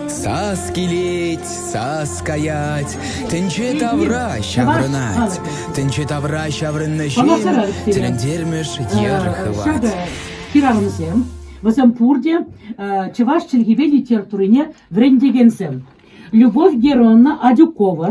Сас килет, сас каять, тӗнче тавра ҫаврӑнать. Тӗнче тавра ҫаврӑннӑ ҫын тӗлӗнтермӗш йӗр хывать. Хӗрарӑмсем, вӗсем пурте чӑваш чӗлхипе литературине вӗрентекенсем. Любовь Геронна Адюкова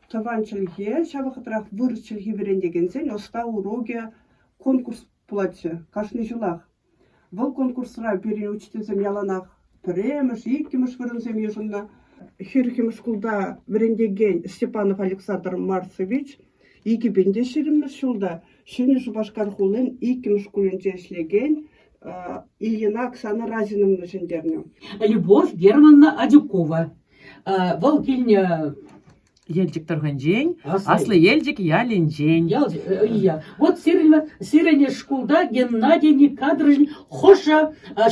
тӑван чӗлхе, ҫав вӑхӑтрах вырӑс чӗлхи вӗрентекенсен ӑста урокӗ, конкурс пулатчӗ кашни ҫулах. Вӑл конкурсра пирӗн учительсем яланах пӗрремӗш, иккӗмӗш вырӑнсем йышӑннӑ. Хирхӗм шкулта вӗрентекен Степанов Александр Марцевич икӗпен те ҫирӗммӗш ҫулта Ҫӗнӗ Шупашкар хулин иккӗмӗш шкулӗнче ӗҫлекен Ильина Оксана Разиновна ҫӗнтернӗ. Любовь Германовна Адюкова. Вӑл килнӗ Елчӗк тӑрӑхӗнчен, Аслӑ Елчӗк ялӗнчен. Ял, иә. Вот сирӗн шкулта Геннадий Никадрович хӑшӗ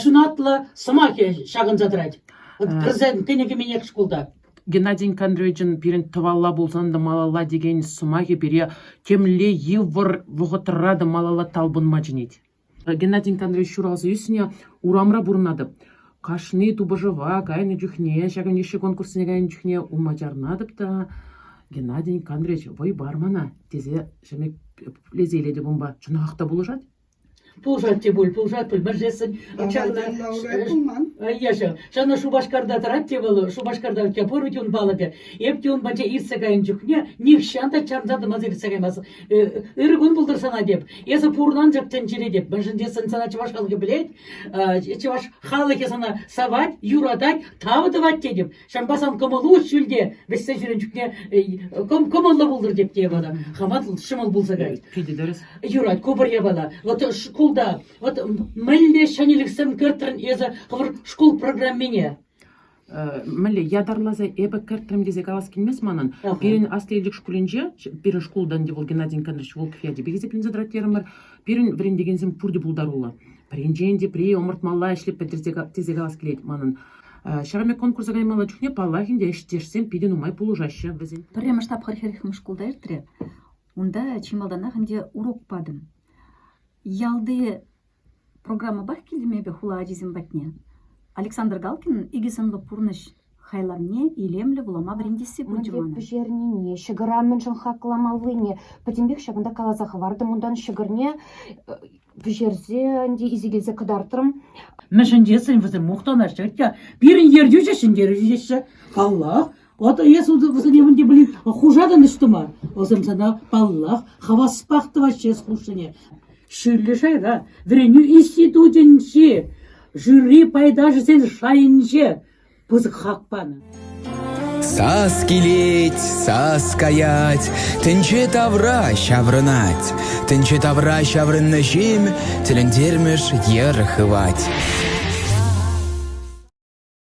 ҫунатлӑ сӑмахӗ ҫакӑнса тӑрать. Президент кӗнӗ кӗменех шкулта. Геннадий Никандровичӑн пирӗн тӑвалла пулсан та малалла текен сӑмахӗ пире темле йывӑр вӑхӑтра та малалла талпӑнма чӗнет. Геннадий Николаевич ҫуралса ӳснӗ урамра пурӑнатӑп. Кашни тупӑшӑва кайнӑ чухне, ҫакӑн йышши конкурссене кайнӑ чухне улма чарӑнатӑп та Геннадий Николаевич вӑй пар мана тесе ҫӗмӗрлесе илетӗп унпа. Чӑнах та пулӑшать? Пулӑшать те пуль, пулӑшать пуль, мӗншесен ҫакна... пулман. Ешӗ, ҫавна Шупашкарта тӑрать те вӑл, Шупашкарта пурӗ те ун палӑкӗ. Эп те ун патне иртсе кайнӑ чухне нихҫан та чарӑнса тӑмасӑр иртсе каймастӑп. Ырӑ кун пултӑр сана теп. Эсӗ пурӑн анчӑк тӗнчере теп. Мӗншӗн тесен сана чӑваш халӑхӗ пӗлет, чӑваш халӑхӗ сана савать, юратать, тав тӑвать тетӗп. Ҫавӑнпа сан кӑмӑлу ҫӳлте вӗҫсе ҫӳрен чухне кӑмӑллӑ пултӑр теп те евала. Хаман ҫӑмӑл пулса кайт. Питӗ дөрес. Юрать, ку пӗр евала. Вот шкулта вот мӗнле ҫӗнӗлӗхсем кӗртрӗн эсӗ хӑвӑр шкул программине? мӗнле ятарласа эпӗ кӗртрӗм тесе калас килмест манӑн. Пирӗн Аслӑ Елчӗк шкулӗнче, пирӗн шкултан те вӑл Геннадий Андреевич Волков ячӗпе хисепленсе тӑрать терӗмӗр. Пирӗн вӗрентекенсем пурте пултаруллӑ. Пӗринчен тепри ӑмӑртмалла ӗҫлеп тесе калас килет манӑн. Ҫавӑн пек конкурса каймалла чухне, паллах ӗнтӗ, ӗҫтешсем питӗ нумай пулӑшаҫҫӗ вӗсен. Пӗрремӗш тапхӑр хӗрӗхмӗш шкулта иртрӗ. Унта чи малтанах ӗнтӗ урок патӑм. Ялти Программӑпах килтӗм эпӗ хула ачисем патне. Александр Галкинӑн икӗ сӑнлӑ пурнӑҫ хайлавне илемлӗ вулама вӗрентесси Мӗн пулчӗ те мана. пӗҫернине, ҫӑкӑра мӗншӗн хакламаллине пӗтӗмпех ҫакӑнта каласа хӑвартӑм. Унтан ҫӑкӑрне э, пӗҫерсе ӗнтӗ исекелсе кӑтартрӑм. Мӗншӗн тесен вӗсем мухтанаҫҫӗ. Атя, пирӗн ертӳҫӗ ҫӗнтерӳҫӗ теҫҫӗ. Паллах, Ватӑ эс усӑне мӗн те пулин хушатӑн ӑҫтӑма? Вӑсем сана, паллах, хаваспах тӑваҫҫӗ эс хушнине. Шӳрлӗ шайра вӗренӳ институтӗнчи жюри пайташӗсен шайӗнче пысӑк хак панӑ. Сас килет, сас каять, тӗнче тавра ҫаврӑнать. Тӗнче тавра ҫаврӑннӑ ҫын тӗлӗнтермӗш йӗр хывать.